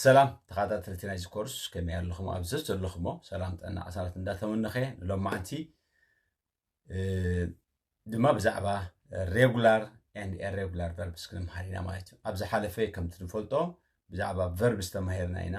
ሰላም ተኸታተልቲ ናይዚ ኮርስ ከመይ ኣለኹም ኣብ ዘለኹሞ ሰላም ጥዕና ዓሳላት እንዳተመነኸ ሎማዕንቲ ድማ ብዛዕባ ሬጉላር ኤንድ ኤሬጉላር ቨርብስ ክንምሃር ኢና ማለት እዩ ኣብ ዝሓለፈ ከምቲ ንፈልጦ ብዛዕባ ቨርብስ ተማሂርና ኢና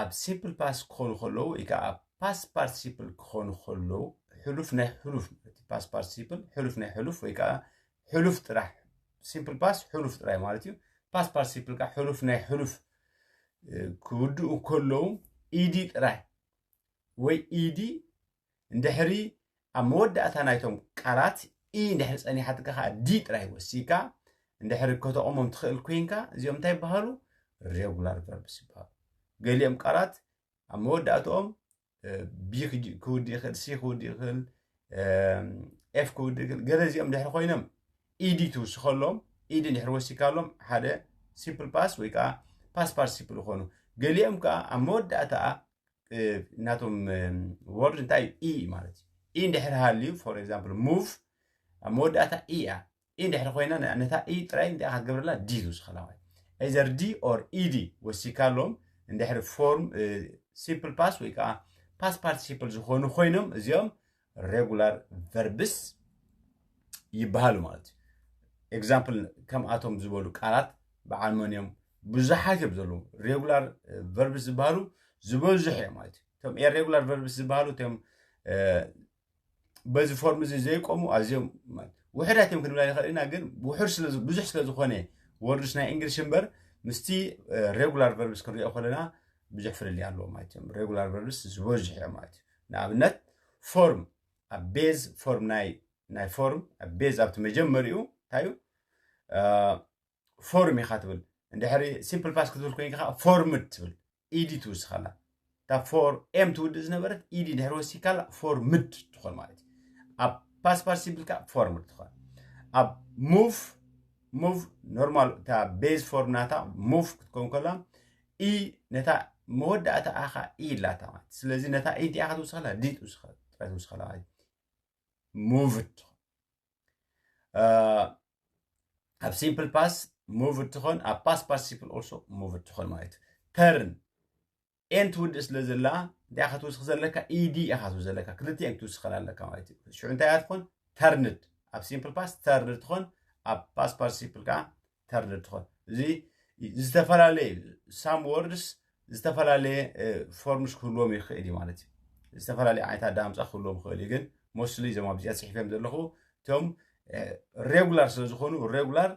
ኣብ ሲምፕል ፓስ ክኾኑ ከለዉ ወይ ከዓ ኣብ ፓስ ፓርቲሲፕል ክኾኑ ከለዉ ሕሉፍ ናይ ሕሉፍ ማለት እዩ ፓስ ፓርቲሲፕል ሕሉፍ ናይ ሕሉፍ ወይ ከዓ ሕሉፍ ጥራሕ ሲምፕል ፓስ ሕሉፍ ጥራይ ማለት እዩ ፓስ ፓርቲሲፕል ከዓ ሕሉፍ ናይ ሕሉፍ ክውድኡ ከለዉ ኢዲ ጥራይ ወይ ኢዲ እንድሕሪ ኣብ መወዳእታ ናይቶም ቃላት ኢ እንድሕሪ ጸኒሓትካ ከዓ ዲ ጥራይ ወሲካ እንድሕሪ ከተቑሞም ትኽእል ኮይንካ እዚኦም እንታይ ይበሃሉ ሬጉላር ቨርብስ ይበሃሉ ገሊኦም ቃላት ኣብ መወዳእትኦም ቢ ክውድእ ይኽእል ሲ ክውድእ ይኽእል ኤፍ ክውድእ ይኽእል ገለ እዚኦም ድሕሪ ኮይኖም ኢዲ ትውስኸሎም ኢዲ ድሕሪ ወሲካሎም ሓደ ሲምፕል ፓስ ወይ ከዓ ፓስ ፓርቲሲፕል ይኾኑ ገሊኦም ከዓ ኣብ መወዳእታ ናቶም ወርድ እንታይ እዩ ኢ ማለት እዩ ኢ እንድሕር ሃልዩ ፎር ኤግዛምፕል ሙቭ ኣብ መወዳእታ ኢ እያ ኢ እንድሕር ኮይና ነታ ኢ ጥራይ እንታይ ክትገብረላ ዲ ዝውስኸላ ማለት ኤዘር ዲ ኦር ኢዲ ወሲካሎም እንድሕር ፎርም ሲምፕል ፓስ ወይ ከዓ ፓስ ፓርቲሲፕል ዝኾኑ ኮይኖም እዚኦም ሬጉላር ቨርብስ ይበሃሉ ማለት እዩ ኤግዛምፕል ከምኣቶም ዝበሉ ቃላት በዓል መን እዮም ብዙሓት እዮም ዘለዉ ሬጉላር ቨርብስ ዝበሃሉ ዝበዝሑ እዮም ማለት እዩ እቶም ኤሬጉላር ቨርብስ ዝበሃሉ እቶም በዚ ፎርም እዚ ዘይቆሙ ኣዝዮም ውሕዳት እዮም ክንብላ ይኽእል ኢና ግን ውሑድ ብዙሕ ስለ ዝኾነ ወርድስ ናይ እንግሊሽ እምበር ምስቲ ሬጉላር ቨርብስ ክንሪኦ ከለና ብዙሕ ፍልልይ ኣለዎ ማለት እዮም ሬጉላር ቨርብስ ዝበዝሑ እዮም ማለት እዩ ንኣብነት ፎርም ኣብ ቤዝ ፎርም ናይ ናይ ፎርም ኣብ ቤዝ ኣብቲ መጀመሪኡ እንታይ እዩ ፎርም ኢኻ ትብል እንድሕሪ ሲምፕል ፓስ ክትብል ኮይንካ ከዓ ፎርምድ ትብል ኢዲ ትውስኻላ እታ ፎር ኤም ትውድእ ዝነበረት ኢዲ ድሕሪ ወሲካላ ፎርምድ ትኾን ማለት እዩ ኣብ ፓስ ፓስ ሲምፕል ከዓ ፎርምድ ትኾን ኣብ ሙቭ ሙቭ ኖርማል እታ ቤዝ ፎርም ናታ ሙቭ ክትከውን ከላ ኢ ነታ መወዳእታኣ ኸዓ ኢ ኣላታ ማለት እዩ ስለዚ ነታ ኢ እንቲኣ ክትውስኸላ ዲ ትውስኸላ ጥራይ ትውስኸላ ማለት እዩ ሙቭድ ትኾን ኣብ ሲምፕል ፓስ ሙቭድ ትኾን ኣብ ፓስ ፓርቲሲፕል ኦልሶ ሙቭድ ትኾን ማለት እዩ ተርን ኤን ትውድእ ስለ ዘላ እንታይ ክትውስኽ ዘለካ ኢዲ ኢኻ ትውስኽ ዘለካ ክልቲኤን ክትውስኸላ ኣለካ ማለት እዩ ሽዑ እንታይ እያ ትኾን ተርንድ ኣብ ሲምፕል ፓስ ተርንድ ትኾን ኣብ ፓስ ፓርቲሲፕል ከዓ ተርድእ ትኾን እዚ ዝተፈላለየ ሳም ወርድስ ዝተፈላለየ ፎርምስ ክህልዎም ይኽእል እዩ ማለት እዩ ዝተፈላለየ ዓይነት ኣዳምፃ ክህልዎም ይኽእል እዩ ግን ሞስሊ እዞም ኣብዚኣ ፅሒፈም ዘለኹ እቶም ሬጉላር ስለ ዝኾኑ ሬጉላር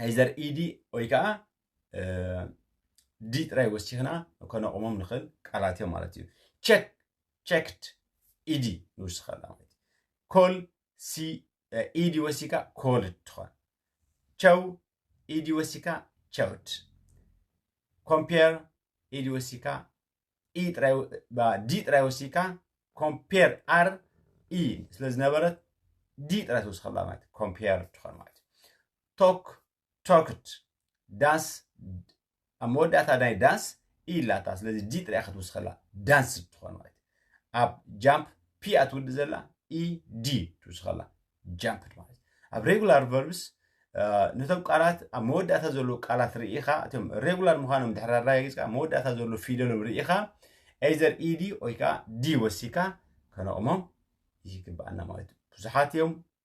ኣይዘር ኢዲ ወይ ከዓ ዲ ጥራይ ወሲኽና ከነቑሞም ንኽእል ቃላት እዮም ማለት እዩ ቸክ ቸክድ ኢዲ ንውስኸላ ማለት እዩ ኮል ሲ ኢዲ ወሲካ ኮልድ ትኾን ቸው ኢዲ ወሲካ ቸውድ ኮምፔር ኢዲ ወሲካ ኢ ጥራይ ዲ ጥራይ ወሲካ ኮምፔር ኣር ኢ ስለ ዝነበረት ዲ ጥራይ ትወስኸላ ማለት ኮምፔር ትኾን ማለት ቶክ ቶክት ዳስ ኣብ መወዳእታ ናይ ዳስ ኢ ኣላታ ስለዚ ዲ ጥራይ ክትውስኸላ ዳንስ ትኾን ማለት ኣብ ጃምፕ ፒ እያ ትውዲ ዘላ ኢ ዲ ትውስኸላ ጃምፕድ ማለት ኣብ ሬጉላር ቨርብስ ነቶም ቃላት ኣብ መወዳእታ ዘለዉ ቃላት ርኢኻ እቶም ሬጉላር ምዃኖም ድሕሪ ኣረጋጊፅካ መወዳእታ ዘለዉ ፊደሎም ርኢኻ ኤዘር ኢዲ ወይ ከዓ ዲ ወሲካ ከነቕሞም ይግባኣና ማለት እዩ ብዙሓት እዮም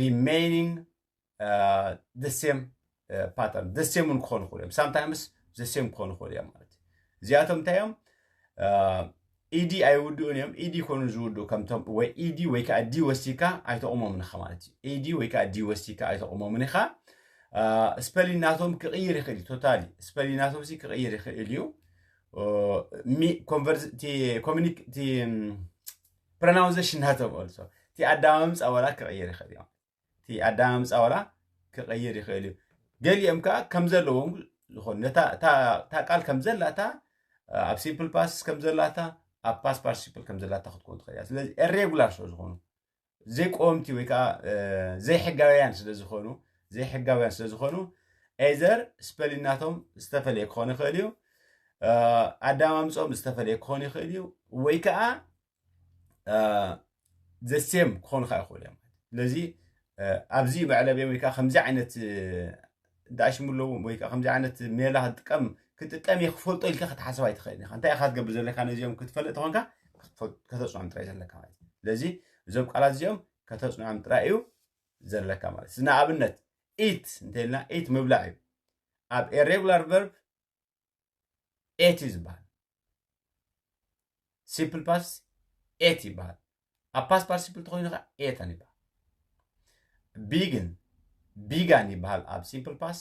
ሪሜይኒንግ ደሴም ፓተርን ደሴም እውን ክኾኑ ይኽእሉ እዮም ሳምታይምስ ዘሴም ክኾኑ ይኽእሉ እዮም ማለት እዩ እዚኣቶም እንታይ እዮም ኢዲ ኣይውድኡን እዮም ኢዲ ኮኑ ዝውድኡ ከምቶም ወይ ኢዲ ወይ ከዓ ዲ ወሲካ ኣይተቑሞምን ኢኻ ማለት እዩ ኢዲ ወይ ከዓ ዲ ወሲካ ኣይተቑሞምን ኢኻ ስፐሊን ናቶም ክቕይር ይኽእል እዩ ቶታሊ ስፐሊን ናቶም ሲ ክቕይር ይኽእል እዩ ኮሚኒክ ፕረናውዘሽን እናተብኦል ሶ እቲ ኣዳማምፃ ወላ ክቕይር ይኽእል እዮም እቲ ኣዳማምፃ ወላ ክቕይር ይኽእል እዩ ገሊኦም ከዓ ከም ዘለዎም ዝኾኑ ነታ እታ ቃል ከም ዘላታ ኣብ ሲምፕል ፓስስ ከም ዘላታ ኣብ ፓስ ፓርቲሲፕል ከም ዘላታ ክትኮን ትኽእል እያ ስለዚ ኤሬጉላር ስለ ዝኾኑ ዘይቆምቲ ወይ ከዓ ዘይሕጋውያን ስለ ዝኾኑ ዘይሕጋውያን ስለ ዝኾኑ ኤዘር ስፐሊናቶም ዝተፈለየ ክኾን ይኽእል እዩ ኣዳማምፆም ዝተፈለየ ክኾን ይኽእል እዩ ወይ ከዓ ዘሴም ክኾኑ ከዓ ይኽእሉ እዮም ስለዚ ኣብዚ መዕለብ እዮም ወይ ከዓ ከምዚ ዓይነት ዳእሽሙ ኣለዎም ወይ ከዓ ከምዚ ዓይነት ሜላ ክጥቀም ክጥቀም እየ ክፈልጦ ኢልካ ክትሓስብ ኣይትኽእልን ኢኻ እንታይ ኢኻ ትገብር ዘለካ ነዚኦም ክትፈልጥ ተኾንካ ከተፅኖም ጥራይ ዘለካ ማለት እዩ ስለዚ እዞም ቃላት እዚኦም ከተፅኖም ጥራይ እዩ ዘለካ ማለት እዩ ንኣብነት ኢት እንተኢልና ኢት ምብላዕ እዩ ኣብ ኤሬጉላር ቨርብ ኤት እዩ ዝበሃል ሲምፕል ፓስ ኤት ይበሃል ኣብ ፓስ ፓርቲሲፕል ተኮይኑ ከዓ ኤታን ይበሃል ቢግን ቢጋን ይበሃል ኣብ ሲምፕል ፓስ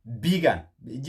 ቢጋን ብእጂ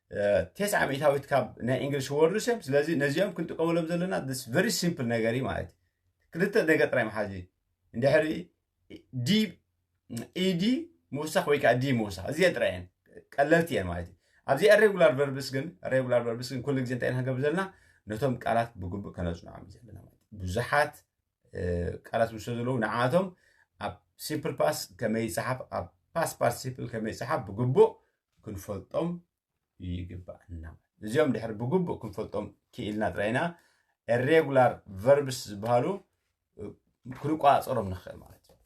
ቴስዓ ሚእታዊት ካብ ናይ እንግሊሽ ወርድስ እዮም ስለዚ ነዚኦም ክንጥቀመሎም ዘለና ስ ቨሪ ሲምፕል ነገር እዩ ማለት እዩ ክልተ ነገር ጥራይ መሓዚ እንድሕሪ ዲ ኢዲ ምውሳኽ ወይ ከዓ ዲ ምውሳኽ እዚአን ጥራይ እየን ቀለልቲ እየን ማለት እዩ ኣብዚኣ ሬጉላር ቨርብስ ግን ሬጉላር ቨርብስ ግን ኩሉ ግዜ እንታይ ኢና ክንገብር ዘለና ነቶም ቃላት ብግቡእ ከነፅንዖም እዩ ዘለና ማለት እዩ ብዙሓት ቃላት ምስ ዘለዉ ንዓቶም ኣብ ሲምፕል ፓስ ከመይ ይፅሓፍ ኣብ ፓስ ፓርቲሲፕል ከመይ ይፅሓፍ ብግቡእ ክንፈልጦም ይግባእና እዚኦም ድሕሪ ብግቡእ ክንፈልጦም ክኢልና ጥራይና ሬጉላር ቨርብስ ዝበሃሉ ክንቆፃፀሮም ንኽእል ማለት እዩ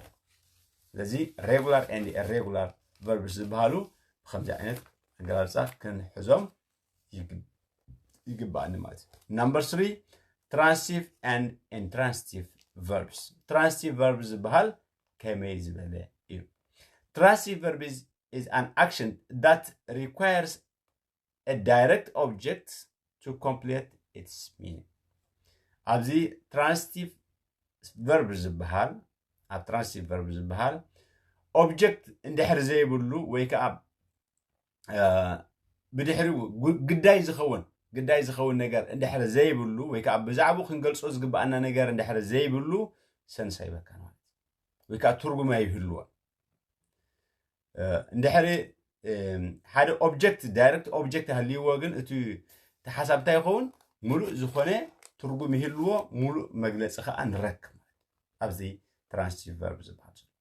ስለዚ ሬጉላር ኤንድ ሬጉላር ቨርብስ ዝበሃሉ ብከምዚ ዓይነት ኣገላልፃ ክንሕዞም ይግባኣኒ ማለት እዩ ናምበር ስሪ ትራንስቲቭ ን ኢንትራንስቲቭ ቨርብስ ትራንስቲቭ ቨርብ ዝበሃል ከመይ ዝበለ እዩ ትራንስቲቭ ቨርብ is an action that requires a direct object to complete its meaning ኣብዚ ትራንስቲቭ ቨርብ ዝበሃል ኣብ ትራንስቲቭ ቨርብ ዝበሃል ኦብጀክት እንድሕር ዘይብሉ ወይ ከዓ ብድሕሪኡ ግዳይ ዝኸውን ግዳይ ዝኸውን ነገር እንድሕር ዘይብሉ ወይ ከዓ ብዛዕባኡ ክንገልጾ ዝግብኣና ነገር እንድሕር ዘይብሉ ሰንስ ኣይበካን ማለት ወይ ከዓ ትርጉም ኣይህልዎን እንድሕሪ ሓደ ኦብጀክት ዳይረክት ኦብጀክት ሃልይዎ ግን እቲ ተሓሳብ እንታይ ይኸውን ሙሉእ ዝኾነ ትርጉም ይህልዎ ሙሉእ መግለፂ ከዓ ንረክብ ኣብዚ ትራንስቲቭ ቨርብ ዝበሃል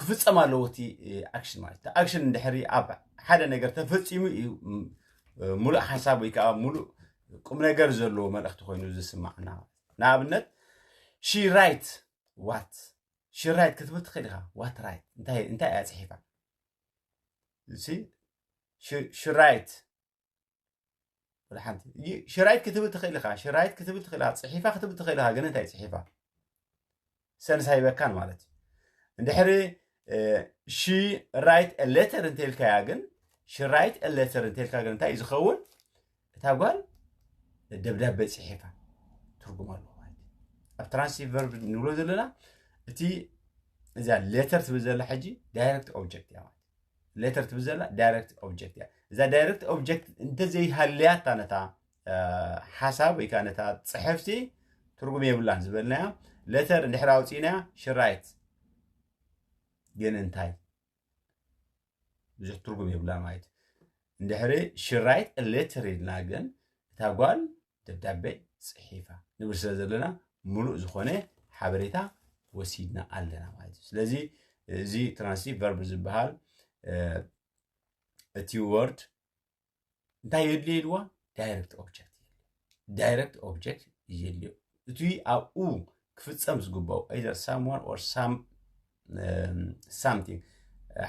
ክፍፀም ኣለዎ እቲ ኣክሽን ማለት እቲ ኣክሽን እንድሕሪ ኣብ ሓደ ነገር ተፈፂሙ እዩ ሙሉእ ሓሳብ ወይ ከዓ ሙሉእ ቁም ነገር ዘለዎ መልእኽቲ ኮይኑ ዝስማዕና ንኣብነት ሺ ራይት ዋት ሺ ራይት ክትብል ትኽእል ኢኻ ዋት ራይት እንታይ እያ ፅሒፋ ሺ ራይት ወላ ሓንቲ ይ- ሽራይት ክትብል ትኽእል ኢኻ ሽራይት ክትብል ትኽእል ኢኻ ፅሒፋ ክትብል ትኽእል ኢኻ ግን እንታይ ፅሒፋ ሰንስ ኣይበካን ማለት እዩ እንድሕሪ ሺ ራይት ሌተር እንተልካያ ግን ሽራይት ሌተር እንተልካ ግን እንታይ እዩ ዝኸውን እታ ጓል ደብዳቤ ፅሒፋ ትርጉም ኣለዎ ማለት እዩ ኣብ ትራንሲቲቭ ቨርብ ንብሎ ዘለና እቲ እዛ ሌተር ትብል ዘላ ሕጂ ዳይረክት ኦብጀክት እያ ማለት እዩ። ሌተር ትብል ዘላ ዳይሬክት ኦብጀክት እያ እዛ ዳይሬክት ኦብጀክት እንተዘይሃለያታ ነታ ሓሳብ ወይ ከዓ ነታ ፅሕፍቲ ትርጉም የብላን ዝበልናያ ሌተር እንድሕር ኣውፂእናያ ሽራይት ግን እንታይ ብዙሕ ትርጉም የብላ ማለት እዩ እንድሕሪ ሽራይት ሌተር ኢልና ግን እታ ጓል ደብዳቤ ጽሒፋ ንብል ስለ ዘለና ምሉእ ዝኾነ ሓበሬታ ወሲድና ኣለና ማለት እዩ ስለዚ እዚ ትራንሲ ቨርብ ዝበሃል እቲ ወርድ እንታይ የድልዮ ኢልዋ ዳይረክት ኦብጀክት ዳይረክት ኦብጀክት የድልዮ እቲ ኣብኡ ክፍፀም ዝግባኦ ኢዘር ሳምዋን ኦር ሳም ሳምቲንግ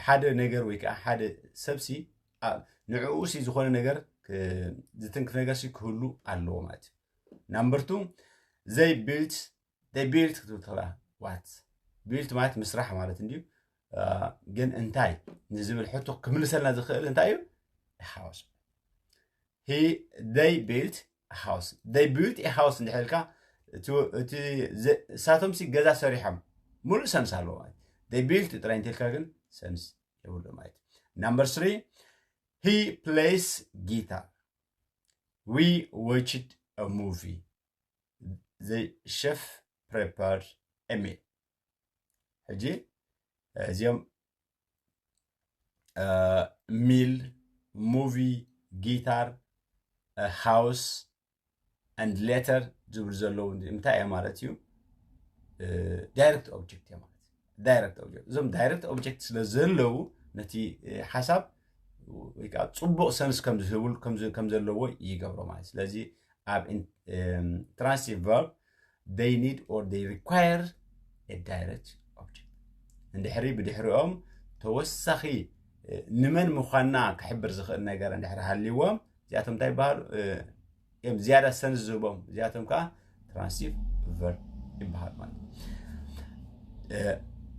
ሓደ ነገር ወይ ከዓ ሓደ ሰብሲ ንዕኡ ሲ ዝኾነ ነገር ዝትንክፍ ነገር ሲ ክህሉ ኣለዎ ማለት እዩ ናምበር ቱ ዘይ ቢልት ዘይ ቢልት ክትብል ትኽእላ ዋት ቢልት ማለት ምስራሕ ማለት እንድዩ ግን እንታይ ንዝብል ሕቶ ክምልሰልና ዝኽእል እንታይ እዩ ሓወስ ሂ ደይ ቢልት ሃውስ ደይ ቢልት ሃውስ እንድሕር ኢልካ እቲ ንሳቶምሲ ገዛ ሰሪሖም ሙሉእ ሰምስ ኣለዎ ማለት ደይ ቢልት ጥራይ እንተልካ ግን ሰምስ የብሉ ማለት ናምበር ስሪ ሂ ፕሌይስ ጊታር ዊ ዎችድ ሙቪ ዘ ሸፍ ፕሬፓርድ ኤሚል ሕጂ እዚኦም ሚል ሙቪ ጊታር ሃውስ ኣንድ ሌተር ዝብሉ ዘለዉ እንታይ እየ ማለት እዩ ዳይረክት ኦብጀክት እየ ማለት ዳይረክት ኦብጀክት እዞም ዳይረክት ኦብጀክት ስለ ዘለዉ ነቲ ሓሳብ ወይ ከዓ ፅቡቅ ሰንስ ከምዝህብሉ ከም ዘለዎ ይገብሮ ማለት ስለዚ ኣብ ትራንስቲቭ ቨርብ they need or they require a direct object እንድሕሪ ብድሕሪኦም ተወሳኺ ንመን ምዃንና ክሕብር ዝኽእል ነገር እንድሕሪ ሃልይዎም እዚኣቶም እንታይ ይበሃሉ እዮም ዝያዳ ሰን ዝህቦም እዚኣቶም ከዓ ትራንሲቭ ቨርብ ይበሃል ማለት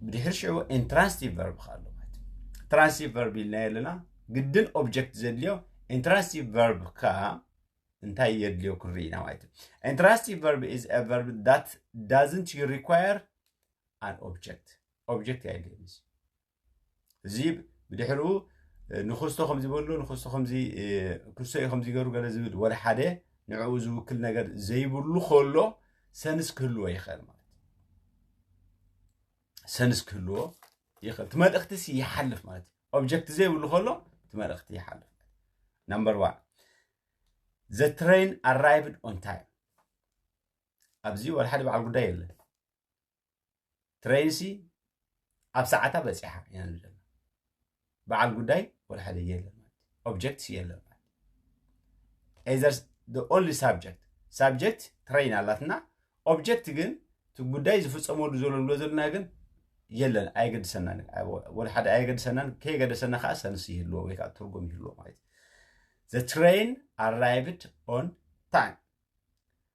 ብድሕሪ ሽዑ ኢንትራንስቲቭ ቨርብ ከዓ ኣሎ ማለት እዩ ትራንሲቭ ቨርብ ኢልና የለና ግድን ኦብጀክት ዘድልዮ ኢንትራንስቲቭ ቨርብ ከዓ እንታይ የድልዮ ክንርኢና ማለት እዩ ኢንትራንስቲቭ ቨርብ ኢዝ አ ቨርብ ዳት ዳዝንት ሪኳየር ኣን ኦብጀክት ኦብጀክት የድልዮ እዚ ብድሕሪኡ ንክስቶ ከምዚ በሎ ንክስቶ ከምዚ ክስቶ እዩ ከምዚ ገሩ ገለ ዝብል ወደ ሓደ ንዕኡ ዝውክል ነገር ዘይብሉ ከሎ ሰንስ ክህልዎ ይኽእል ማለት ሰንስ ክህልዎ ይኽእል እቲ መልእኽቲ ሲ ይሓልፍ ማለት እዩ ኦብጀክት ዘይብሉ ከሎ እቲ መልእኽቲ ይሓልፍ ናምበር ዋን ዘ ትሬን ኣራይቭድ ኦን ታይም ኣብዚ ወላ ሓደ በዓል ጉዳይ የለን ትሬን ሲ ኣብ ሰዓታ በፂሓ ኢና ንብለና በዓል ጉዳይ ወላ ሓደ የለን ማለት እዩ ኦብጀክትስ የለን ማለት ኤዘርስ ኦንሊ ሳብጀክት ሳብጀክት ትሬይን ኣላትና ኦብጀክት ግን እቲ ጉዳይ ዝፍፀመሉ ዘሎ ንብሎ ዘለና ግን የለን ኣየገድሰናን ወላ ሓደ ኣየገድሰናን ከየገደሰና ከዓ ሰንስ ይህልዎ ወይ ከዓ ትርጉም ይህልዎ ማለት እዩ ዘ ትሬይን ኣራይቭድ ኦን ታይም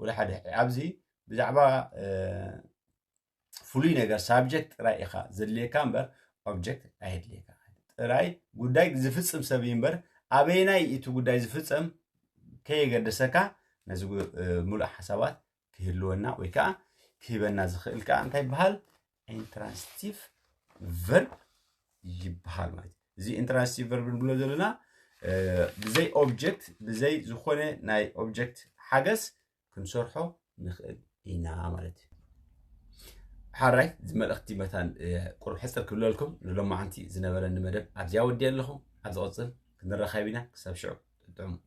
ወላ ሓደ ሕጂ ኣብዚ ብዛዕባ ፍሉይ ነገር ሳብጀክት ጥራይ ኢኻ ዘድልየካ እምበር ኦብጀክት ኣየድልየካ ጥራይ ጉዳይ ዝፍፅም ሰብ እዩ እምበር ኣበየናይ እቲ ጉዳይ ዝፍፀም ከየገደሰካ ነዚ ምሉእ ሓሳባት ክህልወና ወይ ከዓ ክህበና ዝኽእል ከዓ እንታይ ይበሃል ኢንትራንስቲቭ ቨርብ ይበሃል ማለት እዩ እዚ ኢንትራንስቲቭ ቨርብ ንብሎ ዘለና ብዘይ ኦብጀክት ብዘይ ዝኾነ ናይ ኦብጀክት ሓገዝ ክንሰርሖ ንኽእል ኢና ማለት እዩ ሓራይ እዚ መልእኽቲ መታን ቁርብ ሕፅር ክብለልኩም ንሎማዓንቲ ዝነበረኒ መደብ ኣብዚያ ወዲየ ኣለኹ ኣብ ዝቕፅል ክንረኻብ ኢና ክሳብ ሽዑ ጥዑም